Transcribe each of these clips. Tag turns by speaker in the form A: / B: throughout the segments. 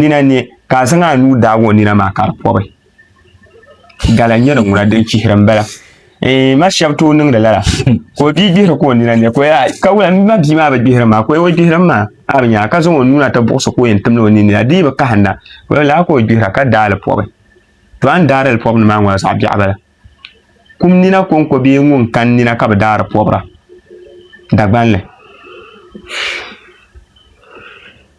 A: nina ni ka a zaŋ a nuu daagi o nina maa ka di pɔbi gala nyɛri ŋuna din chihiri n bala eh, ma shɛbi tooi niŋdi lala ka o bia gbihiri ka o nina ni ka wula ma bia maa bi gbihiri maa ka o gbihiri maa a bi nyaa ka zaŋ o nuu na ti buɣusi ka o yɛn timdi o nini la dii bi kahinda wula laa ka o gbihira ka daali pɔbi to a ni daari li pɔbi ni maa ŋɔ zaɣ biɛɣu bala kum nina konko bee ŋun kan nina ka bi daari pɔbira dagbanli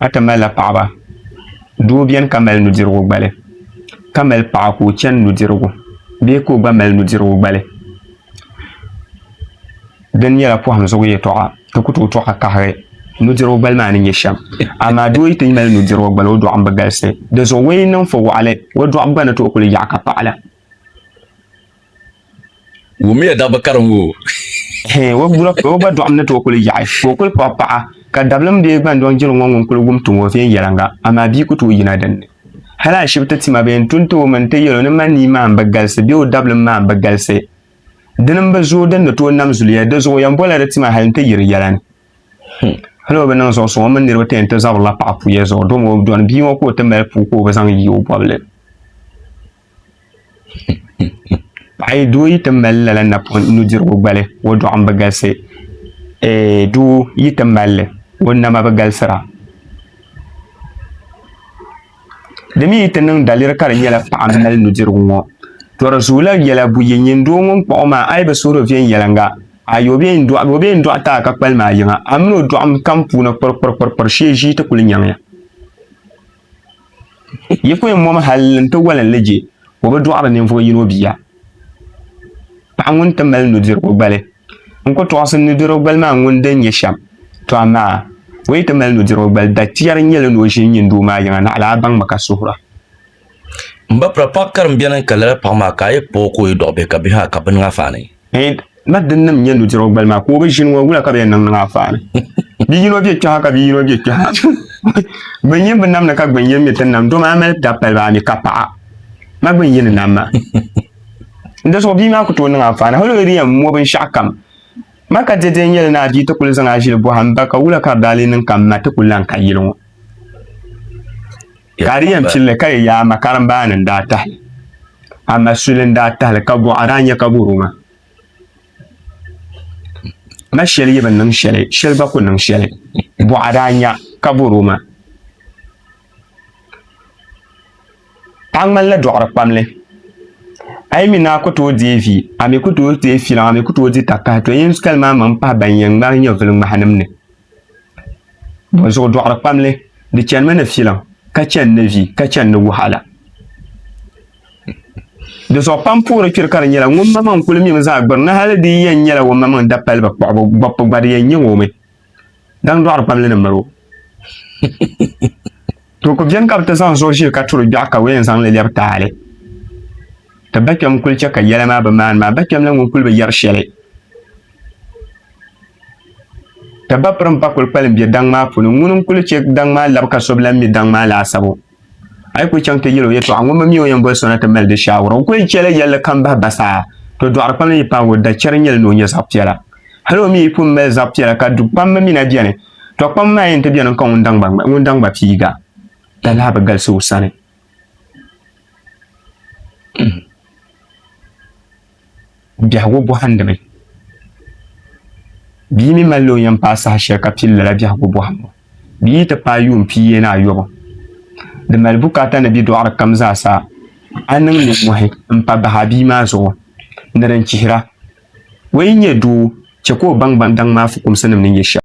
A: Ata malila paɣaba doo biɛni ka mali nudirigu gbali ka mali paɣa ka o chɛni nudirigu bee ka o gba mali nudirigu gbali dini nyɛla poham zuɣu yɛltɔɣa ti ku tooi to ka kahi nudirigu gbali maa ni nyɛ shɛm amaa doo yi ti mali nudirigu gbali o doɣam bi galisi dizuɣu o yi niŋ fo waɣali o doɣam gba ni tooi kuli yaɣa ka paɣala
B: Wumiya dabba ka di ŋo.
A: O gba dɔɣim ni tooi kuli yaɣi ka o kuli paɣi paɣa ka dabilim bee gbandoŋ jiri ŋɔ ŋun kuli wum tuŋ o viɛnyɛliŋga amaa bia ku tooi yina dinni. Hali ashibiti tima bee n-tu n-ti o mi n-ti yɛl o ni ma nii maa m-bi galisi bee o dabilim maa m-bi galisi dini m-bi zooi din ni tooi nam zuliya di zuɣu yɛn bɔla di tima hali n-ti yiri yɛla ni. Hmm. Hali o bi niŋ zuɣu suŋ o mini niriba ti yɛn ti zabirila paɣa puya zuɣu dom o dɔni bia ŋɔ ka o ti mali puu ka o bi zaŋ yi o bɔbili. Paɣa yi doo yi ti mali lala napɔŋ nudirigu gbali o dɔɣu n bi galisi doo yi ti malli o nama bi galisira di mi yi ti niŋ daliri ka di nyɛla paɣa n mali nudirigu ŋɔ to di zuɣu lahi yɛla buyi nyin doo ŋun kpuɣi o maa a yi bi suhuri viɛnyɛliŋga ayi o bɛ yɛn dɔɣi ti a ka kpalim a yiŋa amina o dɔɣim kam puuni kpirikpirikpiri shee ʒii ti kuli nyaŋ ya. Yi ku yɛn mɔmi hal n ti wali n li je, o bi dɔɣiri ninvuɣ yino bia. Paɣ ŋun ti mali nudirigu gbali. N ku tɔɣisi nudirigu gbali maa ŋun din nyɛ shɛm, tɔ amaa o yi ti mali nudirigu gbali, dachiɛri nyɛla ni o ʒini nyin doo maa yiŋa, naɣila a baŋmi ka suhira. M
B: ba, pira paɣ karimbiɛni n-ka lala paɣ maa ka a yi kpuɣ o ka o yi dɔɣi bihi ka bihi maa ka bini ŋa faani. Hey, ma din
A: nim nyɛ nudirigu gbali maa ka o bi ʒini ŋɔ wula ka bi yɛn niŋ niŋ afaani bi yino bɛ kpɛha ka bi yino bɛ kpɛha bi nyɛ bi namni ka gbin yɛn mi ti nam doma a mali da pali baa mi ka paɣa ma gbin yɛn nam ma n da zuɣu bia maa ku tooi niŋ afaani hali o di yɛn mo binshaɣu kam ma ka dɛdɛ n yɛli ni a bia ti kuli zaŋ a ʒili bɔham ba ka wula ka baali niŋ ka ma ti ku lan ka yili ŋɔ Ka di yɛn pilli ka yi yaa ma karimbaani n daa tahi a ma suli n daa tahili ka buɣa daa nyɛ ka buru ma ma shɛli yi bi niŋ shɛli shɛli gba ku niŋ shɛli buɣa daa nya ka buru ma a ŋmanila dɔɣiri kpamli a yi mi naa ku tooi deei vi a mi ku tooi deei filiŋ a mi ku tooi di takahi to yɛn kali maa maŋ pahi ban yɛn ŋmahi nyɛvili ŋmahinim ni zuɣu dɔɣiri kpamli di chanimi ni filaŋ ka chani ni vi ka chani ni wahala di zuɣu pam puhiri kpiri ka di nyɛla ŋun ma maŋ kuli mimi zaa gbiri ni hali di yɛn nyɛla o ma maŋ da paliba kpuɣibu gbɔbbu gba di yɛn nyɛ o mi daŋ dɔɣiri kpamli ni mali o To ku beni ka bi ti zaŋ zuɣu ʒee ka turi gbɛɣu ka wɛn zaŋ li lɛbi taali. Ti ba kpɛm kuli chɛ ka yɛla maa bi maani maa, ba kpɛm la ŋun kuli bi yɛri shɛli. Ti ba pirim pa kuli kpalim be daŋ maa puni, ŋuni n-kuli chɛ daŋ maa labi ka so bi lan mi daŋ maa laasabu. A yi kuli chaŋ ti yɛl o yɛtɔɣa, ŋun bi mi o yɛn boli so na ti mali di shaawara. O kuli chɛla yɛlli kam bahi ba saa. To dɔɣiri kpam la yi paagi o, da chɛri n-nyɛli ni o nya zaɣ piɛla. Hal o mi yi pun mali zaɣ piɛla ka du kpamba mi na beni, to kpam maa yɛn ti beni ka ŋun daŋ gba piiga la lahi bi galisi o sani biɛhigu bɔhindi mi bia mi mali o yɛn paai saha shɛli ka pili lala biɛhigu bɔhimbu bia yi ti paai yuun pia yɛn ayɔbu di mali bukaata ni bi dɔɣiri kam zaa sa a niŋ ninmohi m-pa bahi a bia maa zuɣu ni din chihira Ŋɔ yi nyɛ doo, chɛ ka o baŋ baŋ daŋ maa fukumsinim ni nyɛ shɛm.